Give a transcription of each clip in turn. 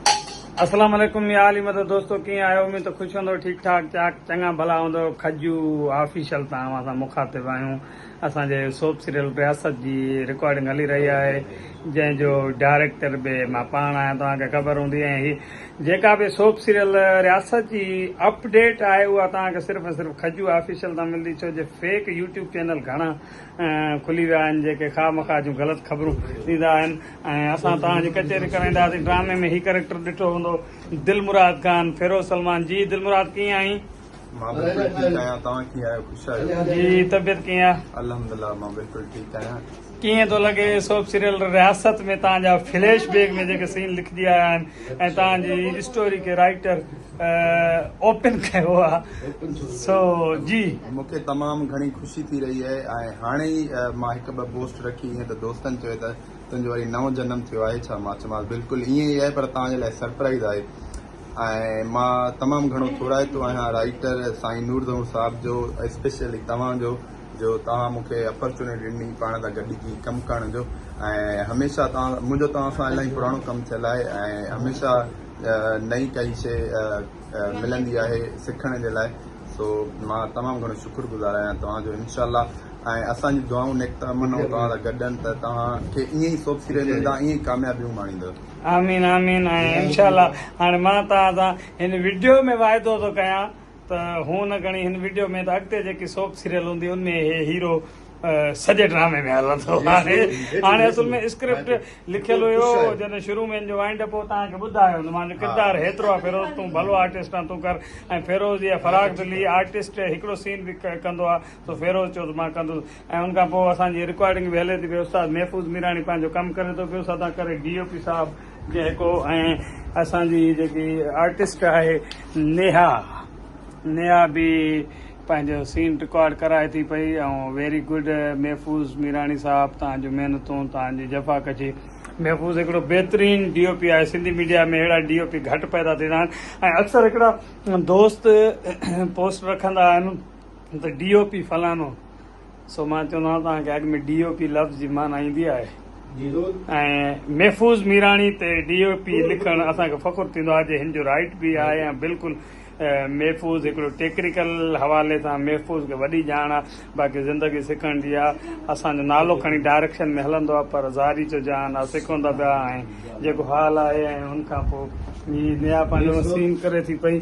اسلام عليڪم يا علي مدد دوستو ڪيئن آهيو اميد ته خوش هوندؤ ٺيڪ ٺاڪ چاڪ چڱا ڀلا هوندؤ کجو آفيشل تان اوهان سان مخاطب آهيون اسان جي سوپ سيريل رياست جي رڪارڊنگ هلي رهي آهي جنهن جو ڊائريڪٽر به مان پاڻ آهيان توهان کي خبر هوندي ۽ هي جيڪا به سوپ سيريل رياست جي اپڊيٽ آهي اها توهان کي صرف ۽ صرف کجو آفيشل تان ملندي ڇو جو فيڪ يوٽيوب چينل گهڻا کلي ويا آهن جيڪي خواهه مخواهه جون غلط خبرون ڏيندا آهن ۽ اسان توهان جي ڪچهري ڪرائينداسين ڊرامي ۾ هي ڪريڪٽر ڏٺو هوندو دلمراد خان فيروز سلمان جي دلمراد ڪيئن آهين. مان بلڪل ٺيڪ آهيان توهان ڪيئن آهيو خوش آهيو. جي طبيعت ڪيئن آ. الحمدلله مان بلڪل ٺيڪ آهيان. ڪيئن ٿو لڳي سوپ سيريل رياست ۾ توهان جا فليش بيڪ ۾ جيڪي سين لکجي آيا آهن ۽ توهان جي اسٽوري کي رائيٽر. اوپن ڪيو آ سو جي. مونکي تمام گهڻي خوشي ٿي رهي آهي ۽ هاڻي ئي مان هڪ ٻه پوسٽ رکي هئي ته دوستن چيو ته تنهنجو وري نئون جنم ٿيو آهي ڇا مان چيومانس بلڪل ائين ئي آهي پر توهان جي لاء سرپرائيز آهي ۽ مان تمام گهڻو ٿورائتو آهيان رائيٽر سائين نور ظهور صاحب جو اسپيشلي توهان جو جو توهان مونکي اپرچونٽي ڏني پاڻ سان گڏجي ڪم ڪرڻ جو ۽ هميشه توهان منهنجو توهان سان الاهي پراڻو ڪم ٿيل آهي ۽ هميشه نئين ڪائي شيء ملندي آهي سکڻ جي لاء سو مان تمام گهڻو شڪر گذار آهيان توهان جو انشاء الله ۽ اسان جون دعائون نيڪ تمنائون توهان سان گڏ آهن ته توهان کي ائين ئي سوڀتي رهندو ۽ توهان ائين ئي ڪاميابيون ماڻيندو آمين آمين ۽ انشاء الله هاڻي مان توهان سان هن وڊيو ۾ واعدو ٿو ڪيان ته هونء نه گهڻي هن وڊيو ۾ ته اڳتي جيڪي سوپ سيريل هوندي ان ۾ هي هيرو سڄي ڊرامي ۾ هلندو آهي هاڻي اصل ۾ اسڪرپٽ لکيل هيو جڏهن شروع ۾ ان جو وائنڊ اپ هو توهان کي ٻڌايو هوندو مان جو ڪردار هيترو آهي فيروز تون ڀلو آرٽسٽ آهين تون ڪر ۽ فيروز يا فراق دلي آرٽسٽ هڪڙو سين به ڪندو آهي ته فيروز چيو ته مان ڪندس ۽ ان کان پوء اسان جي رڪارڊنگ به هلي ٿي پئي استاد محفوظ ميراڻي پنهنجو ڪم ڪري ٿو پيو سدا ڪري ڊي او پي صاحب جي هڪو ۽ اسان جي جيڪي آرٽسٽ آهي نيها نيها به پنهنجو سين رڪارڊ ڪرائي ٿي پئي ۽ ويري گڊ محفوظ ميراڻي صاحب تان جو محنتون تان جي جفا ڪشي محفوظ هڪڙو بهترين ڊي او پي آهي سنڌي ميڊيا ۾ اهڙا ڊي او پي گهٽ پيدا ٿيندا آهن ۽ اڪثر هڪڙا دوست پوسٽ رکندا آهن هن ته ڊي او پي فلانو سو مان چوندو آهيان توهان کي اڳ ۾ ڊي او پي لفظ جي معنيٰ ايندي آهي ۽ محفوظ ميراڻي تي ڊي او پي لکڻ اسان کي فخر ٿيندو آهي جي هن جو رائيٽ به آهي ۽ بلڪل محفوظ هڪڙو ٽيڪنيڪل حوالي سان محفوظ کي وڏي ڄاڻ آهي باقي زندگي سکڻ جي آهي اسان جو نالو کڻي ڊائريڪشن ۾ هلندو آهي پر زاري جو جهان آهي سکون ته پيا ۽ جيڪو حال آهي ۽ ان کان پوء هي نيا پنهنجو سين ڪري ٿي پئي.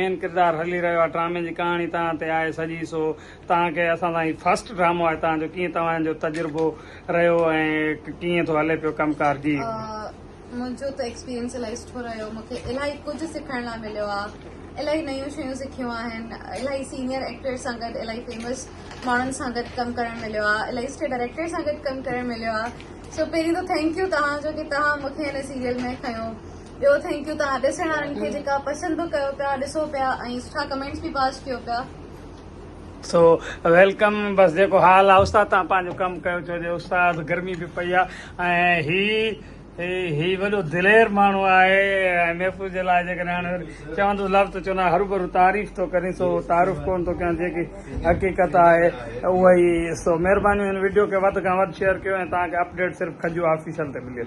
مين ڪردار هلي رهيو آهي ڊرامي جي ڪهاڻي توهان تي آهي سڄي سو توهان کي اسان سان هي فرسٽ ڊرامو آهي توهان جو ڪيئن توهان جو تجربو رهيو ۽ ڪيئن ٿو هلي پيو ڪم ڪار جي. منهنجو ته ايڪسپيرينس الائي سٺو رهيو مونکي الائي ڪجهه سکڻ لاء مليو آ الائي نيون شيون سکيون آهن الائي سينيئر ايڪٽرس سان گڏ الائي فيمس ماڻهن سان گڏ ڪم ڪرڻ مليو آ الائي سٺي ڊائريڪٽر سان گڏ ڪم ڪرڻ مليو آ سو پهرين ته ٿينڪ يو توهان جو ڪي توهان مونکي هن سيريل ۾ کنيو ٻيو ٿينڪ يو توهان ڏسڻ وارن کي جيڪا پسند به ڪيو پيا ڏسو پيا ۽ سٺا ڪمينٽس به پاس ڪيو پيا سو ويلڪم بس جيڪو حال آ استاد تان پانجو ڪم ڪيو ڇو جو استاد گرمي به پئي آ ۽ هي هي وڏو دلير ماڻهو آهي محفوظ جي لاء جيڪڏهن هاڻي چوندس لفظ ته چوندا هروڀرو تعريف ٿو ڪرين سو تعارف ڪون ٿو ڪيان جيڪي حقيقت آهي اها ئي سو مهرباني هن وڊيو کي وڌ کان وڌ شيئر ڪيو ۽ توهان کي اپڊيٽ صرف کجو آفيشل تي ملي